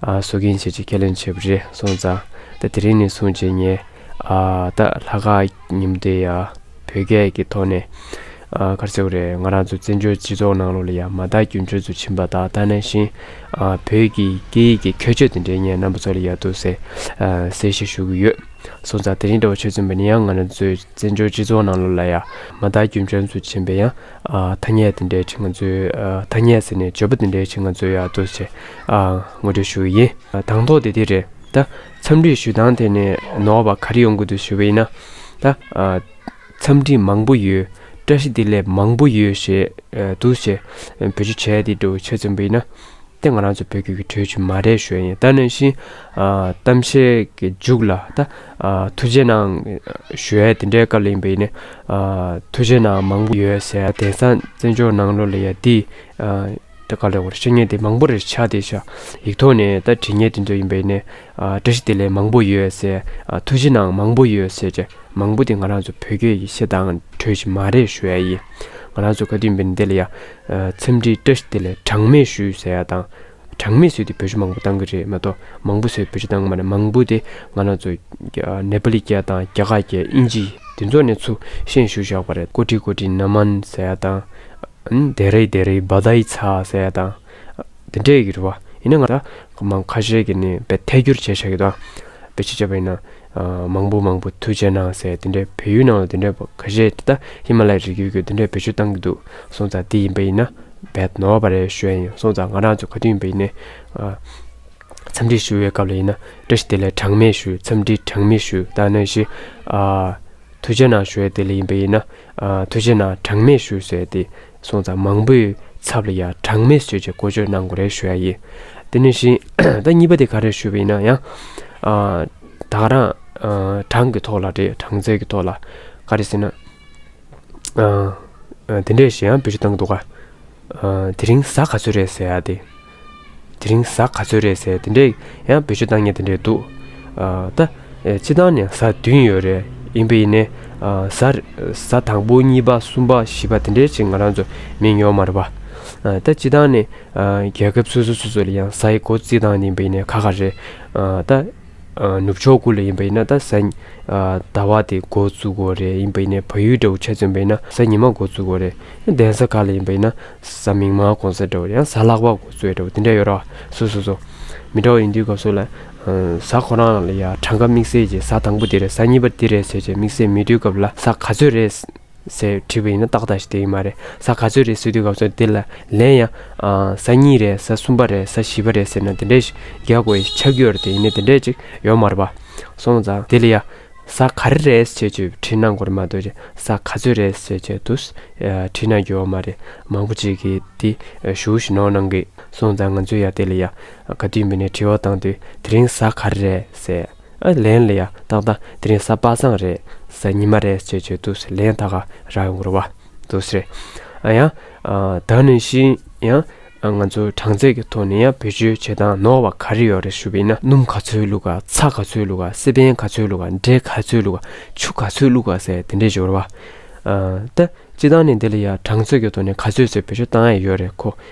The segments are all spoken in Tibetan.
བཟོ་མཁན་བྱེད་ཅེས་ཁས་ལེན་བྱས་པ་རེད་སོང་ཙང། ད་དེ་རིང་ནས་བཟུང་རྗེས་ངས། ད་ལྷ་ཁ་ཉིམ་སྡེ་ཡ། བོད་སྐད་ཀྱི་ཐོག་ནས། གར་ཚེའུ་རེད་ང་རང་ཚོ་བཙན་བྱོལ་སྤྱི་ཚོགས་ནང་ལོགས་ལ་ཡ་མ་དག་རྒྱུན་འཕྲོད་ཚུལ་བྱིན་པ་དག་ད་ནས་བཞིན། བོད་ཀྱི་སྐད་ཡིག་གི་ཁྱད་ཆོས་དེ་འདྲའི་ངའི་རྣམ་པ་ཚོ་ལ་ཡག་འདུག་ཟེར། གསལ་བཤད་ཞུ་གི་ཡོད། སོང་ཙང་དེ་རིང་འདྲ་བ་ཆོས་བཙུན་པ་ནི་ཡང་ང་རང་ཚོའི་བཙན་བྱོལ་སྤྱི་ཚོགས་ནང་ལོགས་ལ་ཡ་མ་དག་རྒྱུན་འཕྲོད་ཚུལ་བྱིན་པས་ཡང། ཐ་སྙད་དེ་འདྲའི་ཁྲི་ང་ཚོའི། ཐ་སྙད་ཟེར་ནས་བརྗོད་པ་དེ་འདྲའི་ཁྲི་ང་ཚོའི་ཡག་འདུག་ཟེར། ངོ་སྤྲོད་ཞུ་ཡི་ཡིན། དང་ཐོག་དེ་དེ་རེད་ད། འཚམས་འདྲི་ཞུ་སྟངས་དེ་ནི་ནོར་བ་ག་རེ་ཡོང་གི་འདུག་ཞུ་བ་ཡིན་ན་ད། འཚམས་འདྲི་མང་པོ་ཡོད། བཀྲ་ཤིས་བདེ་ལེགས་མང་པོ་ཡོད་ཞེས་འདུག་ཞེས་བོད་ཆུ་བྱས་དེ་འགྲོ་བའི་ཆེད་རྩོམ་པ་ཡིན་ན། དེ་ང་རང་ཚོ་བོད་རྒྱུད་ཀྱི་གྲོས་ཆོད་མ་རེད་ཞོད་ཡིན་ད་ནང་བཞིན། གཏམ་བཤད་ཀྱི་མཇུག་ལ་ད། ཐུགས་རྗེ་གནང། ཞོད་དེ་འདྲའི་སྐབས་ལ་ཡིན་པ་ཡིན་ནི། ཐུགས་རྗེ་གནང་མང་པོ་ཡོད་ཟེར་དེང་སང་བཙན་བྱོལ་ནང་ལོ་ལ་ཡ་འདི། ཏེ་ག་ལེར་བཤད་ཉེས་དེ་མང་པོ་རེ་ཆགས་ཏེ་ཤག་ཡིག་ཐོག་ནས་ད་བྲིས་ཉེས་དེ་ཚོ་ཡིན་པས་ནས་བཀྲ་ཤིས་བདེ་ལེགས་མང་པོ་ཡོད་ཟེར་ཐུགས་རྗེ་གནང་མང་པོ་ཡོད་ཟེར་ཀྱི་མང་པོ་དེ་ང་རང་ཚོ་བོད་སྐད་ཡིག་ཤེས་དང་འཕྲོད་ཀྱི་མ་རེད་ཞུ་ཡ་ཡིན་ང་རང་ཚོ་ག་དུས་འབེན་འདི་ལ་ཡ་འཚམས་འདྲི་བཀྲ་ཤིས་བདེ་ལེགས་གྲངས་མེད་ཞུ་ཟེར་ཡ་དང་གྲངས་མེད་བཟོས་ཏེ་བོད་ཆུ་མང་པོ་བཏང་གི་རེད་མ་གཏོགས་མང་པོ་བཟོས་བོད་ཆུ་བཏང་མ་རེད་མང་པོ་དེ་ང་རང་ཚོ་ནེ་པ་ལི་སྐད་དང་རྒྱ་གར་སྐད་དབྱིན་ཇི་དེ་ཚོ་ནས་ཚུར་ཤེས་ཞུ་བཞག་པ་རེད་ཀོ་ཀྲི་ཀོ་ཀྲི་ན་མན་ཟེར་ཡ་དང། དེ་རེད་དེ་རེད་བ་དྭི་ཚ་ཟེར་ཡ་དང། དེ་འདྲས་ཀྱི་རེད་བ། ཡིན་ན་ང་ད་མང་ཁ་ཤས་ཀྱི་ནས་བེད་ཐད་སྒྱུར་བྱས་ཤག་གི་དང། བེད་ཅི་བྱས་པ་ཡིན་ན། མང་པོ་མང་པོ་ཐུགས་རྗེ་གནང་ཟེར་དེ་འདྲས་བེད་ཡུལ་ནང་ལ་དེ་འདྲས་བ་ཁ་ཤས་དེ་ད་ཧི་མ་ལ་ཡ་རི་རྒྱུད་ཀྱི་དེ་འདྲས་བེད་སྤྱོད་བཏང་གི་འདུག་སོང་ཙང་དེ་ཡིན་པ་ཡིན་ན། བེད་ནོར་བ་རེད་ཞུ་ཡ་ཡིན་སོང་ཙང་ང་རང་ཚོ་ག་དུས་ཡིན་པ་ཡིན་ནས། འཚམས་འདྲི་ཞུ་བའི་སྐབས་ལ་ཡིན་ན་བཀྲ་ཤིས་བདེ་ལེགས་གྲངས་མེད་ཞུ་འཚམས་འདྲི་གྲངས་མེད་ཞུ་ད་ནང་བཞིན། ཐུགས་རྗེ་གནང་ཞུ་ཡ་དེ་ལ་ཡིན་པ་ཡིན་ན། དུས་རྗེས་ནང་གྲངས་མེད་ཞུ་ཟེར་ཏེ་སོང་ཙང་མང་པོའི་ཚབ་ལ་ཡང་གྲངས་མེད་ཟོས་ཀྱི་བཀོལ་སྤྱོད་གནང་དགོས་རེད་ཞུ་ཡ་ཡིན། དེ་ནས་བཞིན་ད་གཉིས་པ་དེ་ག་རེ་ཞུ་བ་ཡིན་ན་ཡང། དག་རང་གྲངས་ཀྱི་ཐོག་ལ་རེད་གྲངས་ཚད་ཀྱི་ཐོག་ལ་ག་རེ་ཟེར་ན། དེ་འདྲས་ཞེས་ཡང་བོད་ཀྱི་སྟངས་འདུག་ག། དེ་རིང་གཟའ་ག་ཚོད་རེད་ཟེར་ཡ་དེ། དེ་རིང་གཟའ་ག་ཚོད་རེད་ཟེར་དེ་འདྲས་ཡང་བོད་ཆས་བཏང་ཉེ་དེ་འདྲས་འདུག་ད། ཕྱི་ཐང་ནས་གཟའ་བདུན་ཡོད་རེད་ཡིན་པ་ཡིན། གཟའ་དང་པོ་གཉིས་པ་གསུམ་པ་བཞི་པ་དེ་འདྲས་ཅིག་ང་རང་ཚོ་མིན་ཡོད་མ་རེད་པ། ད་སྤྱི་ཐང་ནས་རྒྱལ་ཁབ་སོ་སོ་སོ་སོ་ལ་ཡང་གཟའ་ཡི་སྒོ་རྩིས་བཏང་ནས་ཡིན་པ་ཡིན་ནས་ག་ག་རེད་ད། ནུབ་ཕྱོགས་ཀུ་ལ་ཡིན་པ་ཡིན་ན་ད་གཟའ། ཟླ་བ་དེ་འགོ་བཙུགས་འགོ་རེད་ཡིན་པ་ཡིན་ནས་བ་ཡུལ་འདྲ་བོ་ཆ་ཚུན་པ་ཡིན་ན་གཟའ་ཉི་མ་འགོ་བཙུགས་འགོ་རེད་གདན་ས་ག་ལ་ཡིན་པ་ཡིན་ན་གཟའ་མིག་དམར་གོང་ས་འདྲ་བོ་རེད་ཡང་གཟའ་ལག་པ་འགོ་བཙུགས་ཡོད་འདྲ་བོ་དེ་འདྲ་ཡོད་ར་བ་སོ་སོ་སོ། མི་འདྲ་བ་ཡིན་དུས་སྐབས་སུ་ལ། གཟའ་ཁོ་རང་ལ་ཡང་གྲངས་ཀ་དམིགས་བསལ་གྱིས་གཟའ་དང་པོ་འདི་རེད་གཟའ་གཉིས་པ་འདི་རེད་ཟེར་བྱས་དམིགས་བསལ་མི་དུས་སྐབས་ལ་གཟའ་ག་ཚོད་རེད། ཟེར་དྲིས་པ་ཡིན་ན་ཏག་ཏག་ཞིག་དེ་ཡིན་མ་རེད་ས་ག་ཚོད་རེད་ཟེར་དུས་ག་ཚོད་དེ་ལ་ལན་ཡང། ས་གཉིས་རེད་ས་གསུམ་པ་རེད་ས་བཞི་པ་རེད་ཟེར་ན་དེ་འདྲས་ཤིག་རྒྱག་དགོས་ཡིན་ཆ་རྒྱུས་རེད་དེ་ཡིན་ནས་དེ་འདྲས་ཅིག་ཡོད་མ་རེད་པ། སོང་ཙང་དེ་ལ་ཡ། ས་ག་རེ་རེད་ཅེས་བརྗོད་པའི་དྲིས་གནང་དགོས་རེད་མ་གཏོགས་ས་ག་ཚོད་རེད་ཟེར་བྱས་དུས་དྲིས་གནང་རྒྱུ་ཡོད་མ་རེད་མང་པོ་ཅིག་གིས་དེ་ཞུ་ཞུ་ནོར་གནང་གི་སོང་ཙང་ང་ཚོས་ཡ་དེ་ལ་ཡ། ག་དུས་མི་ནས་དྲི་བ་བཏང་དུས་དེ་རིང་ས་ག་རེ་རེད་ཟེར། ཨ་ལན་ལ་ཡ་ཏག་ཏག་དེ་རིང་གཟའ་པ་སངས་རེད་གཟའ་ཉི་མ་རེད་ཅེས་བརྗོད་འདུག་ཟེར་ལན་ད་ག་རག་ཡོང་གི་རེད་འདུག་ཟེར། ཨ་ཡང། ད་ནི་ཤིན་ཡང། ང་ཚོ་གྲངས་ཚད་ཀྱི་ཐོག་ནས་ཡང་བེད་སྤྱོད་བྱེད་སྟངས་ནོར་བ་ག་རེ་ཡོད་རེད་ཞུ་བས་ན། སྣུམ་ག་ཚོད་བླུག་ག་ཚྭ་ག་ཚོད་བླུག་ག་སེ་པན་ག་ཚོད་བླུག་ག་འབྲས་ག་ཚོད་བླུག་ག་ཆུ་ག་ཚོད་བླུག་ག་ཟེར་དེ་འདྲའི་སྦྱོར་བ། ད། སྤྱི་བཏང་ནས་འདི་ལ་ཡ་གྲངས་ཚོད་ཀྱི་ཐོག་ནས་ག་ཚོད་ཟེར་བེད་སྤྱོད་བཏང་ཡས་ཡོད་རེད་ཁོ་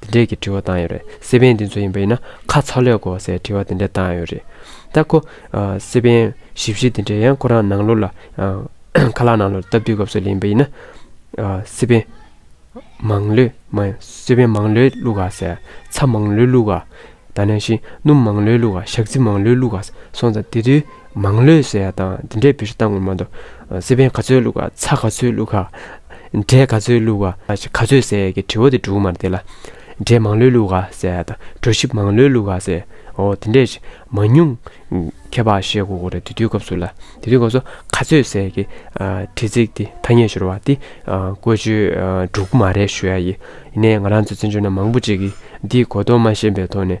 འདི་འདྲས་ཀྱི་དྲི་བ་བཏང་ཡོད་རེད་སེ་པན་འདི་ཚོ་ཡིན་པ་ཡིན་ན་ཁ་ཚ་ལས་གོ་སའི་དྲི་བ་འདི་འདྲས་བཏང་ཡོད་རེད་ད་ཁོ། སེ་པན། ཞིབ་བཤེར་འདི་འདྲས་ཡང་ཁོ་རང་ནང་ལོག་ལ། ཁ་ལག་ནང་ལོག་ལ་སྟབས་བསྡུས་སྐབས་སུ་ལེན་པ་ཡིན་ན། སེ་པན། མང་ལོས། མ། སེ་པན་མང་ལོས་བླུག་ག་ཟེར། ཚྭ་མང་ལོས་བླུག་ག། ད་ནས་བཞིན་སྣུམ་མང་ལོས་བླུག་ག་ཞག་རྩི་མང་ལོས་བླུག་ག་སོང་ཙང་དེ་དུས་མང་ལོས་ཟེར་ཡག་དང་འདི་འདྲས་བེད་སྤྱོད་བཏང་ངོ་མ་དོ། སེ་བན་ག་ཚོད་བླུག་ག་ཚ་ག་ཚོད་བླུག་ག། འབྲས་ག་ཚོད་བླུག་ག་ག་ཚོད་ཟེར་ཡག་གི་དྲི་བ་དེ་འབྲུག་མར་བསྡད་ལ། འབྲས་མང་ལོས་བླུག་ག་ཟེར་ཡག་དང་གྲོ་ཞིབ་མང་ལོས་བླུག་ག་ཟེར་ཡག་འོ་དེ་འདྲས་མ་ཉུང། ཁྱད་པར་བཤད་དགོས་དགོས་རེད་དེ་དུས་སྐབས་སུ་ལ་དེ་དུས་སྐབས་སུ་ག་ཚོད་ཟེར་ཡག་གི་དྲི་ཚིག་དེ་ཐ་སྙད་ཤོར་བ་དེ་བཀོལ་སྤྱོད་འབྲུག་མ་རེད་ཞུ་ཡག་ཡིན་ནའི་ང་རང་ཚོ་བཙན་བྱོལ་ན་མང་པོ་ཅིག་གིས་འདིའི་གོ་རྟོགས་མ་ཞན་པའི་ཐོག་ནས།